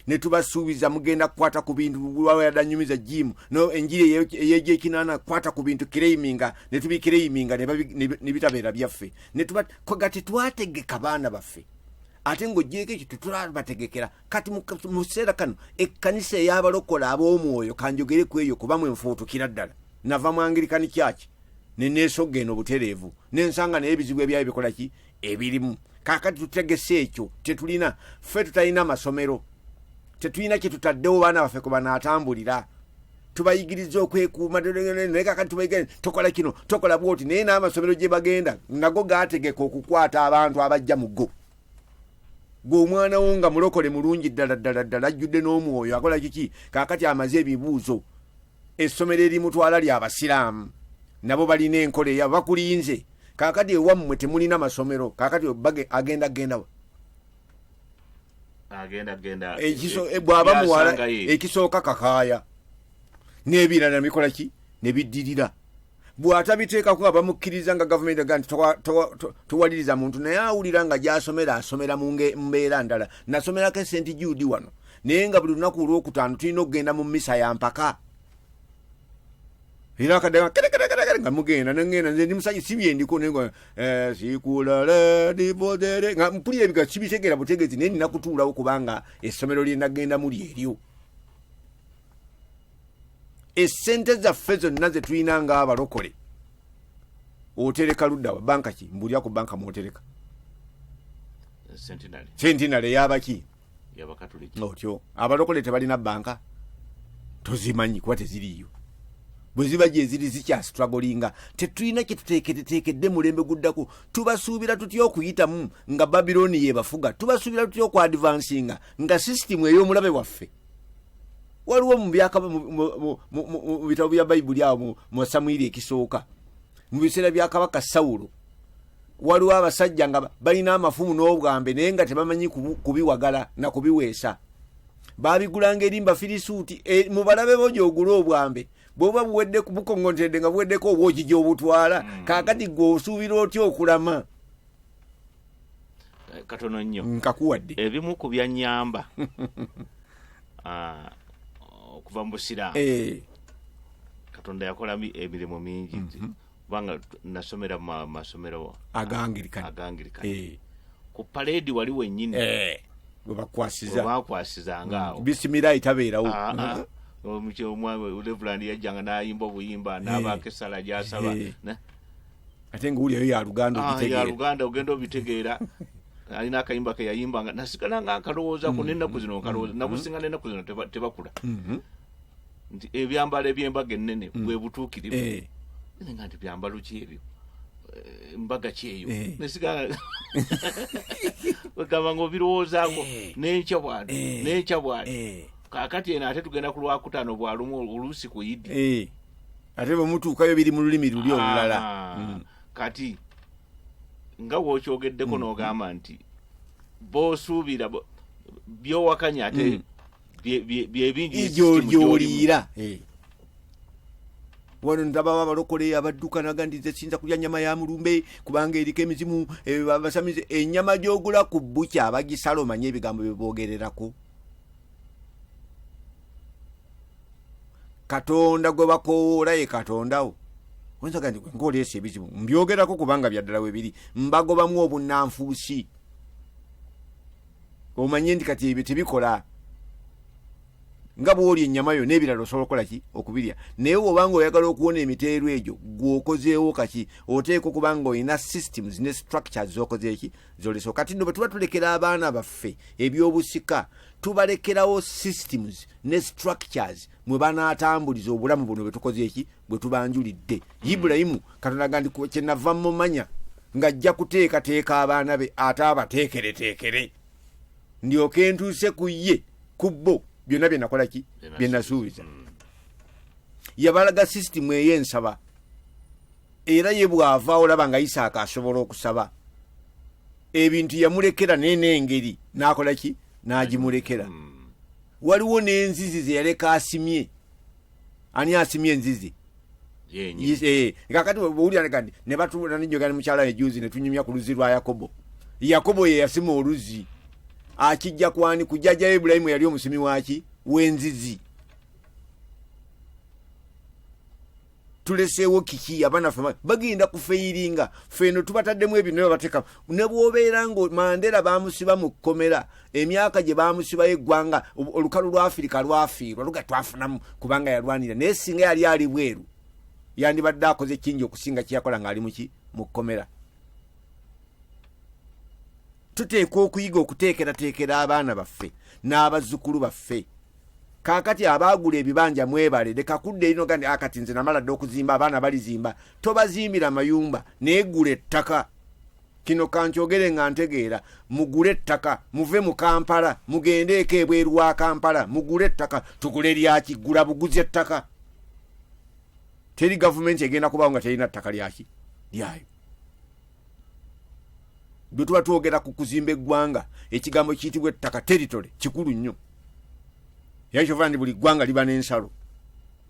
ne tubasuubiza mugenda kukwata ku bintu wayadanyumiza jimu no enjiri eyegyekinana kukwata ku bintu kireiminga ne tubikireiminga ne bitabeera byaffe ne tuba koga tetwategeka baana baffe ate ng'ogyeko ekyo tetulabategekera kati mu kiseera kano ekkanisa ey'abalokola ab'omwoyo kanjogere ku eyo kuba mwe nfuutukira ddala nava mu angirikani kyaki neneesoga eno butereevu nensanga naye ebizibu ebyayo bikola ki ebirimu kakati tutegese ekyo tetulina ffe tutalina masomero tetulina kyetutaddewo baana baffe kwe banaatambulira tubayigiriza okwekuuma naye kakati tubayigiriza tokola kino tokola bwoti naye n'amasomero gye bagenda nago gaategeka okukwata abantu abajja mu go gwe omwana wo nga mulokole mulungi ddala ddala ddala ajjudde n'omwoyo akola kiki kakati amaze ebibuuzo essomero erimutwala lya basiraamu nabo balina enkola eya bakulinze kakati ewammwe temulina masomero kakati bage- agenda gendawa agenda genda Ekiso- eh, bw'aba muwala Yasangayo. ekisooka kakaaya n'ebirala nebikola ki ne biddirira bw'atabiteekako nga bamukkiriza nga gavumenti aga nti towaliriza muntu naye awulira nga gy'asomera asomera mu mbeera ndala nasomerako esenti juudi wano naye nga buli lunaku olwokutaano tulina okugenda mu misa ya mpaka era akaddaga kerekerekerekere nga mugenda nengenda nze ndi musajja si byendiko nenga eh, sikulaladivodere nga mpulira ebiga sibitegera butegezi naye nina kutuulawo kubanga essomero lyenagendamu lyeryo esente zaffe zonna zetulina nga abalokole otereka luddawa banka ki mbulira ku banka mwotereka sentinale yabaki otyo abalokole tebalina banka tozimanyi kuba teziriyo bweziba gyeziri zikyastragolinga tetulina kyetuteeketeteekedde mulembe guddako tubasuubira tutya okuyitamu nga babiloni yebafuga tubasuubira tutya okwadvansinga nga sisitimu ey'omulabe waffe waliwo mu byakaba mu bitabo bya bayibuli awo mu samwiri ekisooka mu biseera bya kabaka sawulo waliwo abasajja nga balina amafumu n'obwambe naye nga tebamanyi kubiwagala na kubiweesa babigulanga eri mbafirisuuti e, mu balabe bo gyogula obwambe bwoba buwedde bukoŋŋontedde nga buweddeko obwogi gy'obutwala mm. kaakati gwe osuubira otya okulama eh, katono nnyo nkakuwadde ebimu ku byanyamba ah, okuva mu busiraamu eh. katonda yakola emirimu mingi mhm. kubanga nasomera mu masomero agangirikani agangirikani eh. ku paleedi wali wennyini webakwasizangabakwasizanga awo mm. bisimira itabeerawo ah, ah. mm. omukyeomwa levulandi yajjanga nayimba obuyimba nabaako essala gyasaba ate nga wulyayo ya luganda ah, ya luganda ogenda obitegeera alina akayimba keyayimba nga nasigala nga nkalowoozako mm-hmm. nenaku zino nkalowooza mm-hmm. nakusinga nenaku zino tebakula mm-hmm. nti ebyambalo ebyembaga ennene mm. bwebutuukirivu eh. nga nti byambalo ki ebyo eh, mbaga kyeyo eh. nesigala wegamba nga obirowoozako nenkya bwano nenkya bwano kakati eno ate tugenda ku lwakutaano bwalumu oluusi ku idi ate bwe mutuukayo biri mu lulimi luli olulala mm. kati nga wokyogeddeko mm. n'ogamba nti bosuubira byowakanya ate mm. byebingigyoliira eh. wano ndababa abalokole abadduka naga nti nze sinza kulya nyama ya mulumbe kubanga eriko emizimu eh, abasamize enyama gyogula ku bukya abagisala omanye ebigambo byebogererako katonda gwe bakoowoola ye katondawo oyinza gandi gwe ngaoleesa ebizibu mbyogerako kubanga byaddala we biri mbagobamu obunnanfuusi omanye nti kati ebyo tebikola nga bwoli ennyama yo n'ebirala osobola okukola ki okubirya naye wobanga oyagala okuwona emiteero egyo gweokozeewo kaki oteeka okubanga olina systems ne structures zokozeeki zoleso kati no bwetuba tulekera abaana baffe ebyobusika tubalekerawo systems ne structures mwe banaatambuliza obulamu buno bwetukoze eki bwe tubanjulidde hmm. ibulayimu katonda ga ndi kyenava mumanya ng'ajja kuteekateeka abaana be ate abateekereteekere ndyoke ntuuse ku ye ku bo byonna bye nakola ki bye nasuubiza hmm. yabalaga system eyo ensaba era ye bw'ava olaba nga isaaka asobola okusaba ebintu yamulekera naye n'engeri n'akola ki n'agimulekera hmm. waliwo n'enzizi ze yaleka asimye ani asimye enzizi eh, kakati owulira nega nti ne batuula nenjogera ne mukyala ejuzi ne tunyumya ku luzzi lwa yakobo yakobo ye yasima oluzzi akijja kwani ku jjajja ibulayimu yali omusimi waki w'enzizi tuleseewo kiki abaana fe bagenda kufeyiringa feeno tubataddemu ebyo naye bateka ne bwobeera nga mandera bamusiba mu kkomera emyaka gye bamusibayo eggwanga olukalu lwa afirika lwafiirwa luga twafunamu kubanga yalwanira naye singa yali ali bweru yandibadde akoze kingi okusinga kyeyakola ngaali muki mu kkomera tuteekwa okuyiga okuteekerateekera abaana baffe n'abazzukulu baffe kakati abaagula ebibanja mwebale leka kudda erino gandi akati ah, nze namala dde okuzimba abaana balizimba tobazimbira mayumba naye gula ettaka kino kankyogere nga ntegeera mugule ettaka muve mu kampala mugendeeko ebweru wa kampala mugule ettaka tugule lyaki gula buguzi ettaka teri gavumenti egenda kubawo nga terina ttaka lyaki lyayo bwe tuba twogera ku kuzimba eggwanga ekigambo kiyitibwa ettaka teritole kikulu nnyo era kyova nti buli ggwanga liba n'ensalo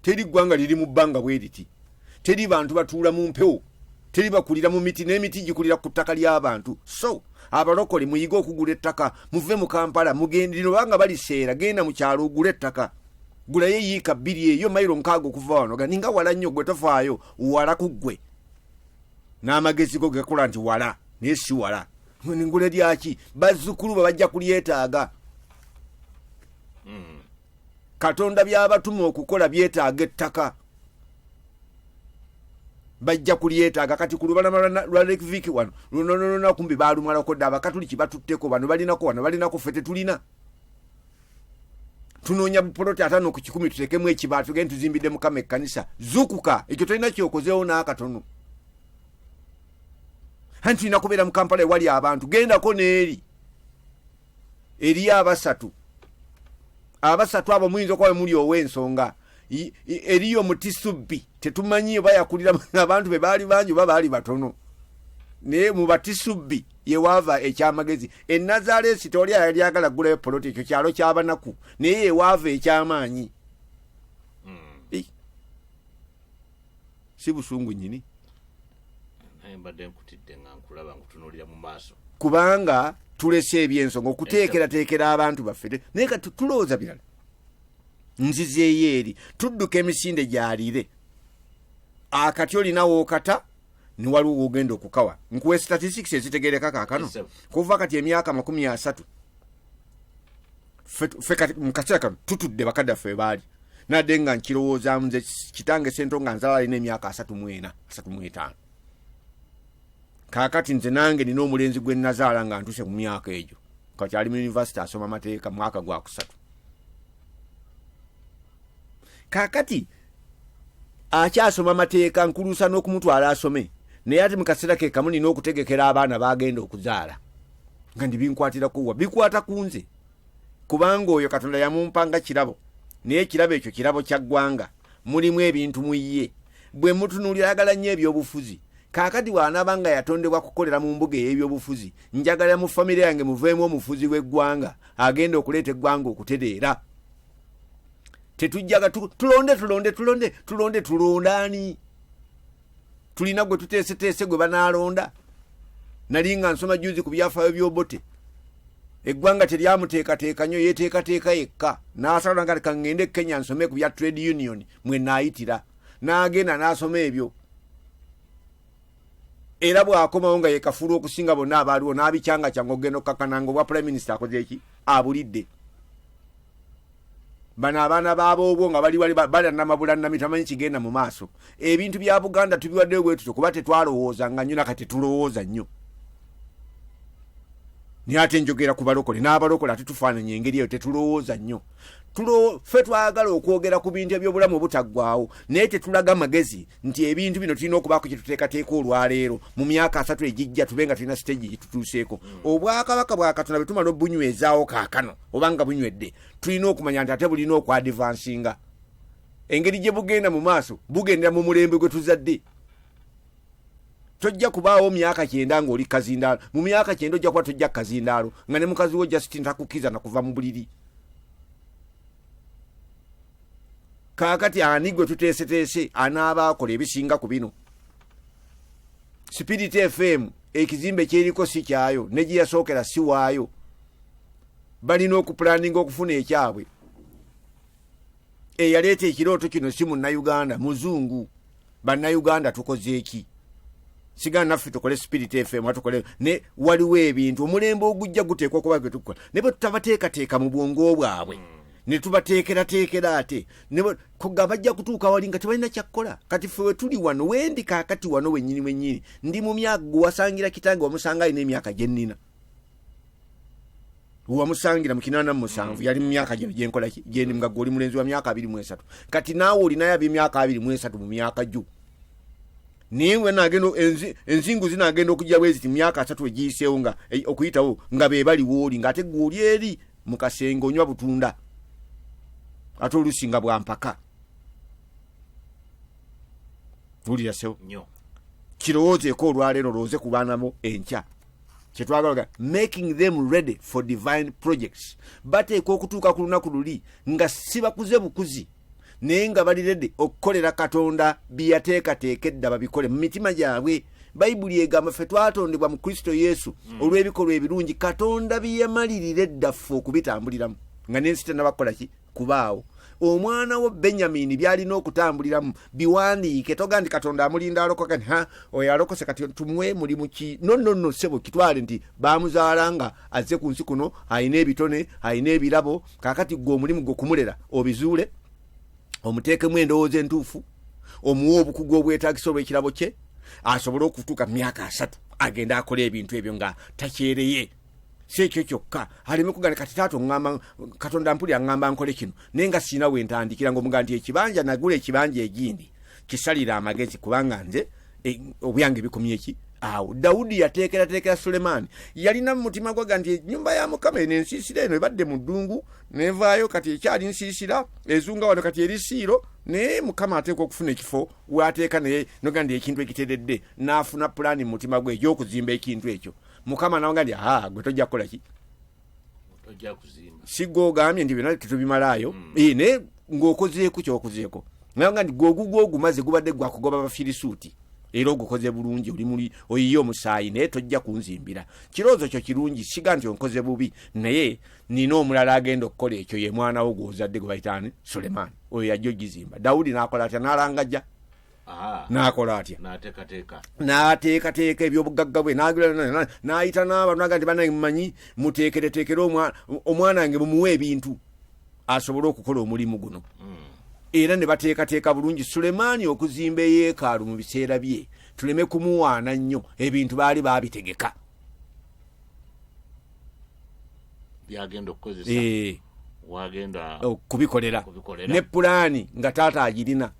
teri ggwanga liri mu bbanga bwe riti teri bantu batuula mu mpewo teri bakulira mu miti n'emiti gikulira ku ttaka ly'abantu so abalokole muyige okugula ettaka muve mu kampala mugendire obanga baliseera genda mu kyalo ogula ettaka gulayo eyiika bbiri eyo mayiro nkaaga okuva wano gani nga wala nnyo gwe tofaayo wala ku ggwe n'amagezi go gekola nti wala naye si wala ngule lyaki bazzukulu bwe bajja kulyetaaga hmm. katonda byabatuma okukola byetaaga ettaka bajja kulyetaaga kati ku lubalama lwa lake vik wano lunonononakumbi balumwalako dda abakatuliki batutteko bano balinako wano balinako fe tetulina tunoonya bupoloti atano ku kikumi tutekemu ekibala tugende tuzimbidde mukama ekkanisa zukuka ekyo tolina kyokozeewo n'akatono anti tulina kubeera mu kampala ewali abantu gendako n'eri eriyo abasatu abasatu abo muyinza okuba wemuli ow'ensonga eriyo mutisubbi tetumanyi oba yakulira abantu be baali bangi oba baali batono naye mubatisubbi yewaava ekyamagezi enazaleesi toli ayali agala kugulayo poloti ekyo kyalo kyabanaku naye yewaava ekyamaanyi hmm. si busungu nyini kubanga tulese ebyensonga okuteekerateekera abantu baffe naye kati tulowooza birala nzizeeyo eri tudduka emisinde gyalire akati olinawo okata niwaliwo wogenda okukawa nkuwe statistics ezitegereka kakano kuva kati emyaka makumi asatu mukaseera kano tutudde bakadaffe webaali nadde nga nkirowooza nze kitange sento nga nzala alina emyaka asatu mwena asatu mwetaano kakati nze nange nina omulenzi gwe nazaala nga ntuse ku myaka egyo kati ali mu univesity asoma mateeka mwaka gwakusatu kakati akyasoma mateeka nkulusa n'okumutwala asome naye ate mukaseera ke kamu nina okutegekera abaana bagenda okuzaala nga ndibinkwatirakowa bikwata ku nze kubanga oyo katonda yamumpanga kirabo naye ekirabo ekyo kirabo kya ggwanga mulimu ebintu mu ye bwe mutunuulira agala nnyo ebyobufuzi kaakati bw'anaaba nga yatondebwa kukolera mu mbuga ey'ebyobufuzi njagala mu famire yange muveemu omufuzi w'eggwanga agenda okuleeta eggwanga okutereera tetujjaga tulonde tulonde tulonde tulonde tulondaani tulina gwe tuteeseteese gwe banaalonda nali nga nsoma juzi ku byafaayo byobote eggwanga teryamuteekateeka nyo yeteekateeka yekka n'asala nga kangende e kenya nsome ku bya trade union mwe naayitira n'agenda n'asoma ebyo era bw'akomawo nga yekafuula okusinga bonna abaaliwo n'abikyanga kyanga okugenda okukakana nga obwa prime minister akoze eki abulidde bano abaana baaboobwo nga bali wali balanamabulanami tamanyi kigenda mu maaso ebintu bya buganda tubiwaddeyo bwe tutyo kuba tetwalowooza nga nnyo nakati tulowooza nnyo naye ate njogera ku balokole n'abalokole ate tufaananya engeri eyo tetulowooza nnyo tulo fe twagala okwogera ku bintu ebyobulamu obutaggwawo naye tetulaga magezi nti ebintu bino tulina okubaako kyetuteekateeka olwaleero mu myaka asatu egijja tube nga tulina siteegi gyetutuuseeko mm. obwakabaka bwa katonda bwe tumala obunywezaawo kaakano oba nga bunywedde tulina okumanya nti ate bulina okwadivansinga engeri gye bugenda mu maaso bugendera mu mulembe gwe tuzadde tojja kubaawo myaka kyenda ngaoli kazindaalo mu myaka kyenda ojja kuba tojja kazindaalo nga ne mukazi wo justin takukiza nakuva mu buliri kaakati ani gwe tuteeseteese anaaba akola ebisinga ku bino spirit fm ekizimbe kyeriko si kyayo ne gye yasookera si waayo balina okupulaninga okufuna ekyabwe eyaleeta ekirooto kino si munnauganda muzungu bannayuganda tukoze eki sigala naffe tukole spirit fm atukole ne waliwo ebintu omulembe ogujja guteekwa okuba gwe tukukola ne bwe tutabateekateeka mu bwongo bwabwe mm. ne tubateekerateekera ate nga bajja kutuuka wali nga tebalina kyakukola kati fe wetuli wano wendi kakati wano wenyini wenyini ndi mumyaga gwewasangira kitange wamusanga alina emyaka gyenina wamusangira mu kinaana mu musanvu yali mu myaka gino gyenkola ki- gyendi nga gwe oli mulenzi wa myaka abiri mu esatu kati naawe olinayo ab'emyaka abiri mu esatu mu myaka gyo naye we nagenda enzi- enzingu zinagenda okujja bweziti mu myaka asatu egiyiseewo nga eh, okuyitawo nga be bali wooli ng'ate gwe oli eri mu kasenge onywa butunda ate oluusi nga bwa mpaka wulira sewo nyo kirowoozeeko olwaleero olowooze ku baana bo enkya kyetwagalaga making them ready for divine projects bateeka okutuuka ku lunaku luli nga sibakuze bukuzi naye nga bali redi okukolera katonda byeyateekateeka edda babikole mu mitima gyabwe bayibuli egamba ffe twatondebwa mu kristo yesu mm. olw'ebikolwa ebirungi katonda byeyamalirira eddaffe okubitambuliramu nga nensi tenabakukolaki kubaawo omwana wo benyamini byalina okutambuliramu biwandiike toga nti katonda amulinda alokoka nti ha oyo alokose kati tumuwe mulimu ki nonono sebo kitwale nti bamuzaala nga azze ku nsi kuno alina ebitone alina ebirabo kakati gwe omulimu gwe kumulera obizuule omuteekemu endowooza entuufu omuwa obukugu obwetagisa olwekirabo kye asobole okutuuka mu myaka asatu agende akola ebintu ebyo nga takyereye si ekyo kyokka aleme kugana kati taata oŋamba katonda mpuli aŋamba nkole kino naye nga sirina we ntandikira nga omuga nti ekibanja nagula ekibanja egindi kisalira amagezi kubanga nze e, obyange bikomye ki awo dawudi yateekerateekera sulemaani yalina mu mutima gwaga nti enyumba ya mukama eno ensiisira eno ebadde mu ddungu nevaayo kati ekyali nsiisira ezunga wano kati eri siiro naye mukama ateekwa okufuna ekifo waateeka naye noga nti ekintu ekiteredde n'afuna pulaani mu mutima gwe egy'okuzimba ekintu ekyo mukama nawanga nti aa gwe tojja kukola ki ojja kuzimba si gwe ogambye nti byona tetubimalaayo Mm. Eh, naye ng'okozeeko kyokozeeko nawanga nti gwe ogugwo ogumaze gubadde gwakugoba abafirisuuti era ogukoze bulungi oli muli oyiye omusaayi naye tojja kunzimbira kirowoozo kyo kirungi siga nti onkoze bubi naye nina omulala agenda okukola ekyo ye mwana wo gwozadde gwe bayitaani sulemaani oyo yajja ogizimba dawudi n'akola atya n'alangajja n'akola atya n'ateekateeka ebyobugagga bwe n'ayita n'abantu naga nti banange mumanyi muteekereteekere omwana wange bumuwa ebintu asobole okukola omulimu guno hmm. era ne bateekateeka bulungi sulemaani okuzimba eyeekaalu mu biseera bye tuleme kumuwaana nnyo ebintu baali baabitegeka byagenda okukozesa eh. wagenda okubikolera ne pulaani nga taata agirina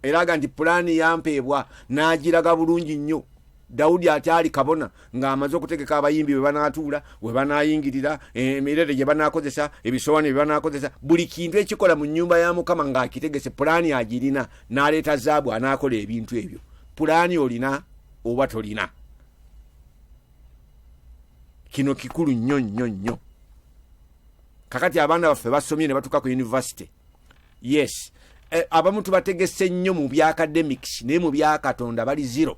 era aga nti pulaani yampeebwa n'agiraga bulungi nnyo dawudi akyali kabona ng'amaze okutegeka abayimbi bwe banaatuula we banaayingirira emirere gye banaakozesa ebisowaani bye banaakozesa buli kintu ekikola mu nnyumba ya mukama ng'akitegese pulaani agirina n'aleeta zaabu anaakola ebintu ebyo pulaani olina oba tolina kino kikulu nnyo nnyo nnyo kakati abaana baffe basomye ne batuuka ku yunivasite yes eh, abamu tubategese nnyo mu bya academics naye mu byakatonda bali zero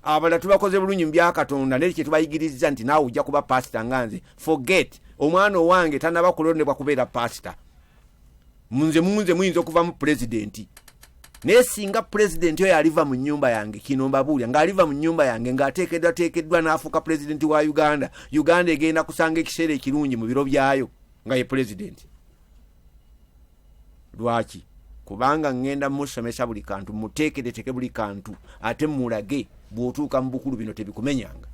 abala tubakoze bulungi mu byakatonda naye kyetubayigiriza nti naawe ojja kuba pasita nga nze forget omwana owange tanaba kulondebwa kubeera pasita munze munze muyinza okuvamu pulezidenti naye singa pulezidenti oyo aliva mu nyumba yange kino mbabuulya ng'aliva mu nyumba yange ng'ateekeddwateekeddwa n'afuuka pulezidenti wa uganda uganda egenda kusanga ekiseera ekirungi mu biro byayo nga ye pulezidenti lwaki kubanga ŋŋenda musomesa buli kantu muteekereteke buli kantu ate mulage bw'otuuka mu bukulu bino tebikumenyanga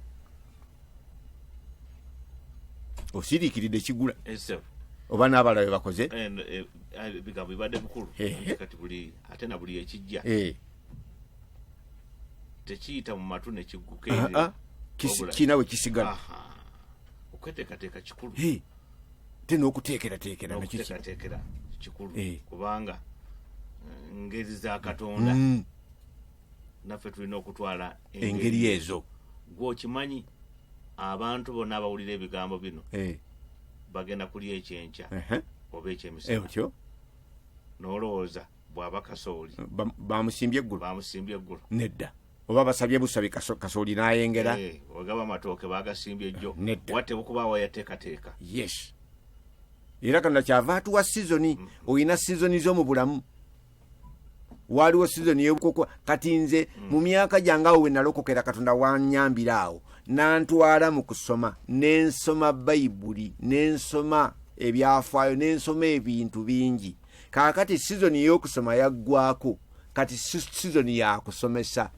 osiriikiridde kigula oba n'abala be bakoze eh, ebigambo bibadde bikulu kati buli ate na buli ekijja eh. tekiyita mu matu nekigguka ah, ah. kinawe kisigala okweteekateeka kikulu te n'okuteekerateekera nakuteekerateekera kikulu eh. kubanga eh, ngeri za katonda mm. naffe tulina okutwala engeri ezo gwokimanyi abantu bonna abawulira ebigambo bino eh. bagenda kuli ekyenkya oba ekyemisatyo nolowooza bwaba kasooli bamusimbye eggulu bamusimbye eggulu nedda oba basabye busabi kaso- kasooli n'ayengera Eh, ogaba amatooke bagasimbye jjo Nedda. wate bukuba wayateekateeka yes era kano nakyava atuwa sizoni olina sizoni zo mu bulamu waaliwo sizoni yobukoko kati nze mu myaka gyange awo we nalokokera katonda wanyambira awo nantwala mu kusoma nensoma bayibuli nensoma ebyafaayo nensoma ebintu bingi kaakati sizoni y'okusoma yaggwako kati sizoni yakusomesa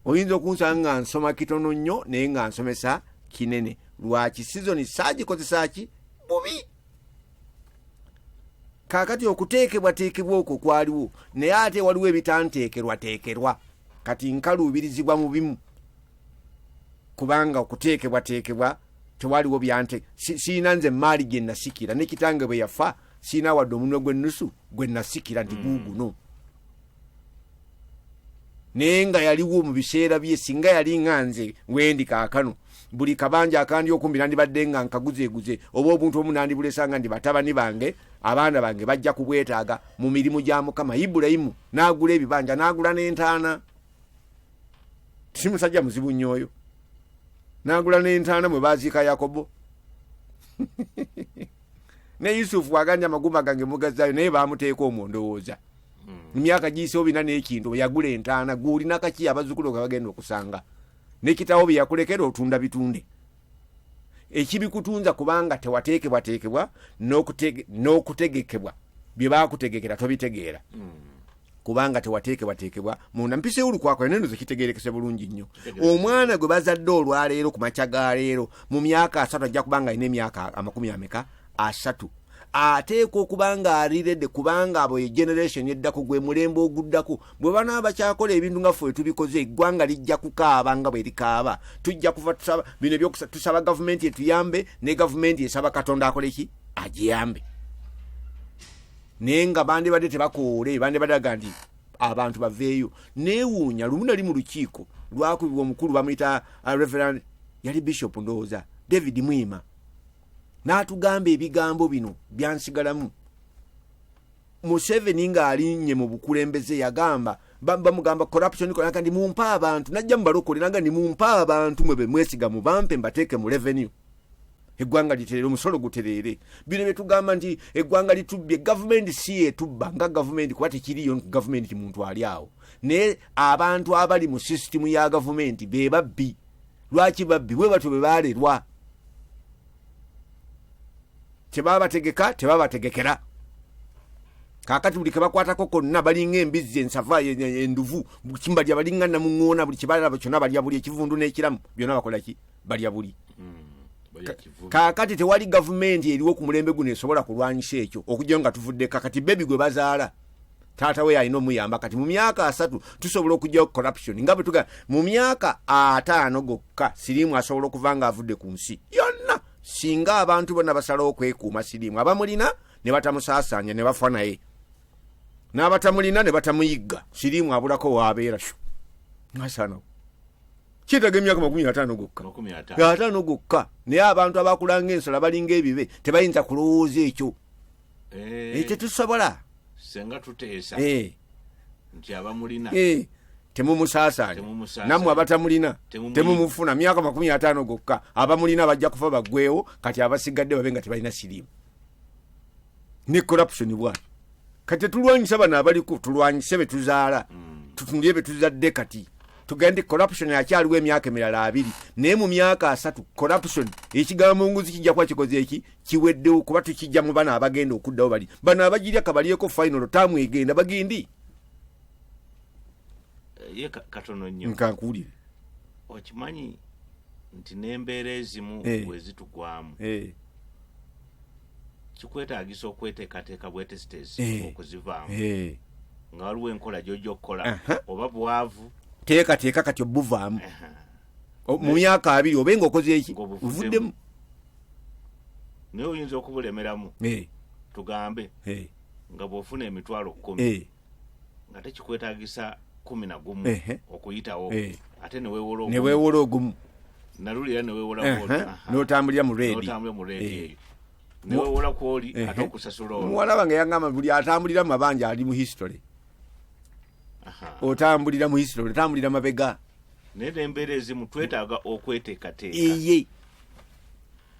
oyinza okunsanga nga nsoma kitono nnyo naye nga nsomesa kinene lwaki sizoni saagikozesa ki bubi kakati okuteekebwateekebwa okwo kwaliwo naye ate waliwo ebitanteekerwateekerwa kati nkaluubirizibwa mu bimu kubanga okuteekebwateekebwa tewaliwo byante sirina nze maali gye nasikira ne kitange bwe yafa sirina wadde omunwe gw'ennusu gwe nasikira nti guuguno naye nga yaliwo mu biseera bye singa yali nga nze wendi kaakano buli kabanja akandi okumbi nandibadde nga nkaguzeeguze oba obuntu omu nandibulesa nga ndi batabani bange abaana bange bajja kubwetaaga mu mirimu gya mukama ibulayimu n'agula ebibanja n'agula n'entaana si musajja muzibu nnyo oyo n'agula n'entaana mwe baaziika yakobo ne yusufu waganja amagumba gange mugazayo naye bamuteeka omwo ndowooza emyaka giyise obina n'ekintu bwe yagula entaana gwolina kaki abazzukulu nga bagenda okusanga nekitawo bye yakulekera otunda bitunde ekibikutunza kubanga tewateekebwateekebwa n'okute- n'okutegekebwa bye bakutegekera tobitegeera kubanga tewateekebwateekebwa munda mpisa ey'olukwakulana eno zekitegeerekese bulungi nnyo omwana gwe bazadde olwaleero ku makya ga leero mu myaka asatu ajja kuba nga alina emyaka amakumi ameka asatu ateekwa okuba nga alirede kubanga abo ye generation eddako gwe mulembe oguddako bwe banaba bakyakola ebintu nga ffe tubikoze eggwanga lijja kukaaba nga bwe likaaba tujja kuva tusaba bino ebyokusaba gavumenti etuyambe ne gavumenti esaba katonda akoleki agiyambe naye nga bandibadde tebakoowoole bandibadde aga nti abantu baveeyo neewuunya lumu nali mu lukiiko lwakubibwa omukulu bamuyita uh, reverand yali bishop ndowooza david mwima n'atugamba ebigambo bino byansigalamu museveni ng'alinnye mu bukulembeze yagamba ba- bamugamba corruption konaga ndi mumpe abantu najja mubalokole naga ndi mumpe abantu mwe bemwesiga mubampe mbateeke mu revenue eggwanga litereere omusolo gutereere bino byetugamba nti eggwanga litubbye gavumenti si yetubba nga gavumenti kuba tekiriyo gavumenti muntu ali awo naye abantu abali mu sisitimu ya gavumenti be babbi lwaki babbi bwe batyo bwe balerwa tebabategeka tebabategekera kakati buli kebakwatako konna balinga embizzi ensava enduvu kimbalya balinga namuŋoona buli kibalaba kyona balya buli ekivundu n'ekiramu byona bakolaki balya buli hmm, kakati tewali gavumenti eriwo ku mulembe guno esobola kulwanyisa ekyo okugyayo nga tuvudde kakati bebi gwe bazaala taata we yalina omuyamba kati mu myaka asatu tusobola okugyawo corruption nga bwetuga mu myaka ataano gokka siriimu asobola okuva nga avudde ku nsi yonna singa abantu bona basalawo okwekuuma siriimu abamulina ne batamusaasaanya ne bafa naye n'abatamulina ne batamuyigga siriimu abulako waabeera shu asaanawo kyetaga emyaka makumi ataano gokka ataano gokka naye abantu abakulanga ensala balinga ebibe tebayinza kulowooza ekyo eh. ekyo tusobola senga tuteesa eh. nti abamulina eh. temumusaasanya nammwe abatamulina temumufuna myaka makumi ataano gokka abamulina bajja kufa bagwewo kati abasigadde babe nga tebalina siriimu ne corruption bwati kati tetulwanyisa bano abaliko tulwanyise betuzaala mm. tutunulire betuzadde kati tugende corruption akyaliwo emyaka emirala abiri naye mu myaka asatu corruption ekigambo nguzi kijja kuba kikoze eki kiweddewo kuba tukijja mu bana abagenda okuddawo bali bano abagirya kabalyeko final taamu egenda bagindi eh, nkankuwulire okimanyi nti nembeera ezimu eh. wezitugwamu eh. kikwetaagisa okweteekateeka bwetesiteesi eh. okuzivaamu eh. nga waliwo enkola gyojja okukola oba bwavu teekateeka kati obuvaamu mu myaka abiri obe nga okoze eki ovuddemu naye oyinza okubulemeramu eh. tugambe nga bwofuna emitwalo kumi nga tekikwetagisa kumi na gumu okuyitawo eh. ate newewola ogumu nalulira newewolaotambulira mu redi eh. newewola kwoli ate okusasula omuwala wange yangamba buli atambulira mu mabanja ali mu history otambulira mu history otambulira mabega naye nembeera ezimu twetaaga okweteekateeka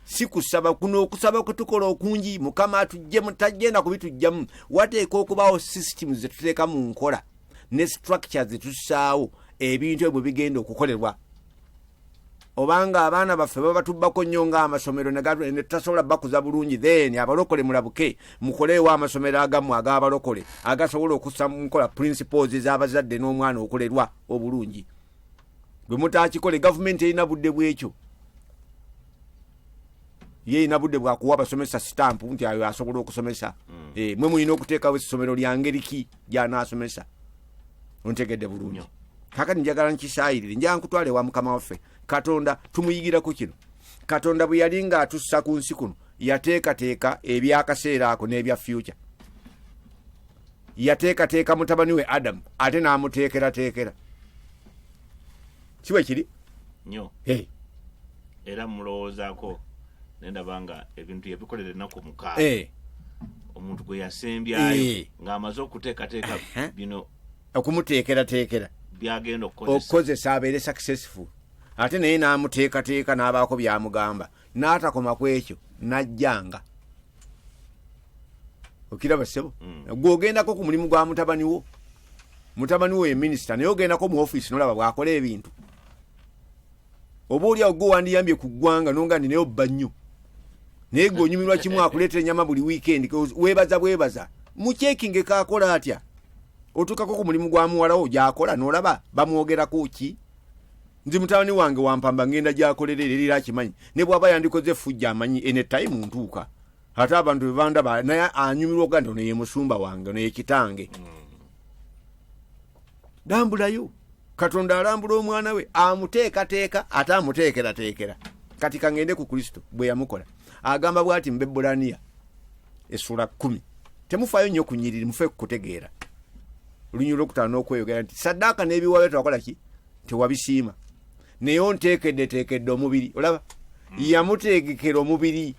si kusaba kuno okusaba kwetukola okungi mukama atujjemu tagenda kubitujjamu wateeka okubaawo system zetuteeka mu nkola ne structure zetussaawo ebintu ebyo bigenda okukolerwa obanga abaana baffe babatubbako nnyo ngaamasomero netutasobola bakuza bulungi then abalokole mulabuke mukoleewo amasomero agamu ag'abalokole agasobola okusa munkola principles z'abazadde n'omwana okulerwa obulungi bwe mutakikole gavumenti erina budde bwekyo ye erina budde bwakuwa abasomesa sitampu nti ayo asobola okusomesa mm. eh, mwe mulina okuteekawo essomero lya ngeri ki gyanaasomesa ontegedde bulungi kakati njagala nkisaayirire njaa nkutwala ewa mukama waffe katonda tumuyigiraku kino katonda bwe yali ng'atussa ku nsi kuno yateekateeka ebyakaseera ako n'ebya fyuca yateekateeka mutabani we adamu ate n'amuteekerateekera kiwe kiri nyo hey. era mulowoozaako nendaba nga ebintu yabikolera ennaku mukaaga hey. Eh. omuntu gwe yasembyayo hey. Eh. ng'amaze okuteekateeka uh -huh. bino okumuteekerateekera byagenda okukozesa abeere successful ate naye n'amuteekateeka n'abaako byamugamba n'atakoma ku ekyo n'ajjanga okiraba ssebo mm. gwe ogendako ku mulimu gwa mutabani wo mutabani wo ye minisita naye ogendako mu ofiisi nolaba bwakola ebintu oba oli awo gwe wandiyambye ku ggwanga nonga ndi naye obba nnyo naye gwe onyumirwa kimu akuleetera ennyama buli wiikendi weebaza bwebaza mukyekinge kaakola atya otuukako ku mulimu gwa muwalawo gyakola nolaba bamwogerako ki nzi mutabani wange wampamba ngenda gyakolera era era akimanyi ne bwaba yandikoze efujja amanyi ene time ntuuka ate abantu bebandaba naye anyumirwa okuga nti ono ye musumba wange ono ye kitange dambulayo katonda alambula omwana we amuteekateeka ate amuteekerateekera kati kangende ku kristo bwe yamukola agamba bwati mu bebbulaniya essula kumi temufaayo nnyo kunyiriri mufe kukutegeera olunyirira okutaano okweyogera nti saddaaka n'ebiwaayo twakola ki tewabisiima naye onteekeddeteekedde omubiri olaba yamuteekekera omubiri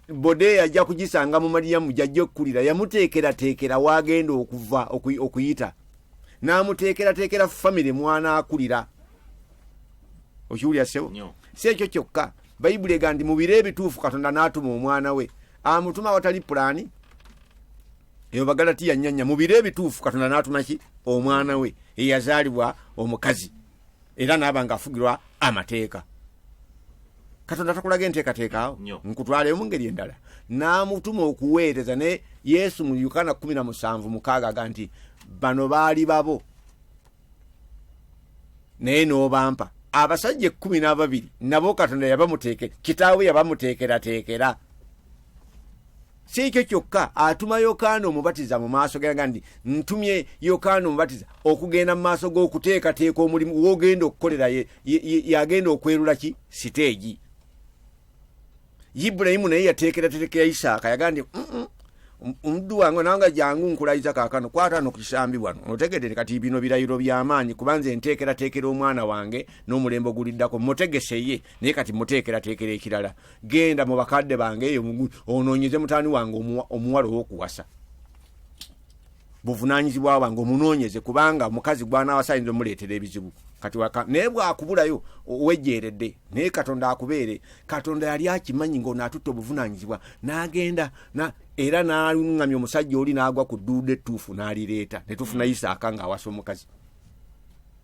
bode yajja kugisanga mu maliyamu gyajja okukulira yamuteekerateekera waagenda okuva okuy- okuyita n'amuteekerateekera famire mwanaakulira okiwulira sebo Nyo. si ekyo kyokka bayibuli ega nti mu biro ebituufu katonda n'atuma omwana we amutuma awatali pulaani eyo bagalatiya nyanya mu biro ebituufu katonda n'atumaki omwana we eyazaalibwa omukazi era naaba nga afugirwa amateeka katonda takulaga enteekateekaawo nkutwaleyo mu ngeri endala n'amutuma okuweereza ne yesu mu yukana 17 mukaaga aga nti bano baali babo naye n'obampa abasajja ekkumi n'ababiri nabo katonda yabamuteekera kitaawe yabamuteekerateekera si ekyo kyokka atuma yokaana omubatiza mu maaso geraga nti ntumye yokaana omubatiza okugenda mu maaso g'okuteekateeka omulimu wogenda okukolera yagenda okwerula ki siteegi ibulayimu naye yateekeratereka ya isaaka yaga nti omuddu wange nanga jangu nkulayiza kakano kwatano ku kisambi wano otegedere kati bino birayiro byamaanyi kubanze enteekerateekera omwana wange n'omulembe oguliddako mutegeseye naye kati muteekerateekera ekirala genda mu bakadde bange eyo onoonyeze mutani wange omuwala owokuwasa buvunanyizibwa bwange omunoonyeze kubanga omukazi gwanawasa ayinza omuleetera ebizibu kati waka naye bwakubulayo owejeeredde naye katonda akubeere katonda yali akimanyi ngaono atutte obuvunanyizibwa n'agenda era naluŋŋamya omusajja oli n'agwa ku dduuda ettuufu n'alireeta ne tufuna mm. isaaka ng'awasa omukazi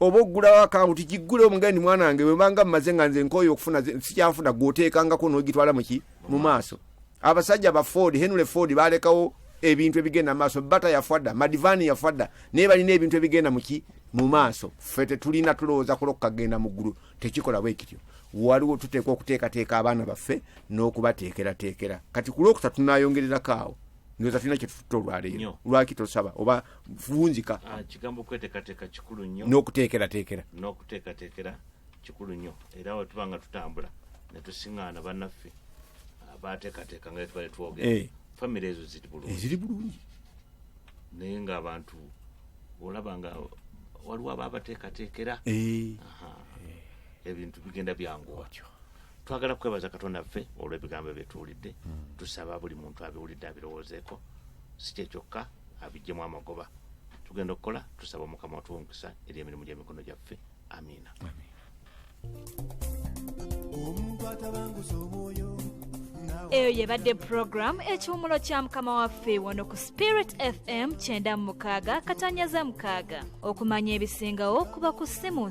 oba oggulawo akawunti giggule omugandi mwana wange webanga mumaze nga nze nkooyo okufuna sikyafuna gwoteekangako nogitwala muki mu maaso abasajja ba ford henry ford balekawo ebintu ebigenda mu maaso bata yafwadda madivani yafwadda naye balina ebintu ebigenda muki mu maaso ffe tetulina tulowooza kula okukagenda mu ggulu tekikola bwekityo waliwo tuteekwa okuteekateeka abaana baffe n'okubateekerateekera kati ku lwokusatu tunayongererako awo ndoza tulina kyetufutta olwaleero lwaki tosaba oba vunzika ah, kigambo kwetekateka kikulu nnyo n'okuteekerateekera n'okuteekateekera kikulu nnyo era wetuba nga tutambula netusiŋaana bannaffe abateekateeka nga twali twogera eh. famiry ezo ziri bulungi ziri bulungi naye ngaabantu olaba nga waliwo aba abateekateekera eh. ebintu bigenda byanguwa twagala kwebaza katonda ffe olw'ebigambo ebyetuwulidde hmm. tusaba buli muntu abiwulidde abirowoozeeko si kyekyokka abijjemu amagoba tugenda okukola tusaba omukama watuwa omukisa eri emirimu gy'emikono gyaffe amiina omuntu atabanguza omwoyo eyo yebadde puroguramu ekiwumulo kya mukama waffe wano ku spirit fm kyenda mu mukaaga katanyaza mukaaga okumanya ebisingawo kuba ku simu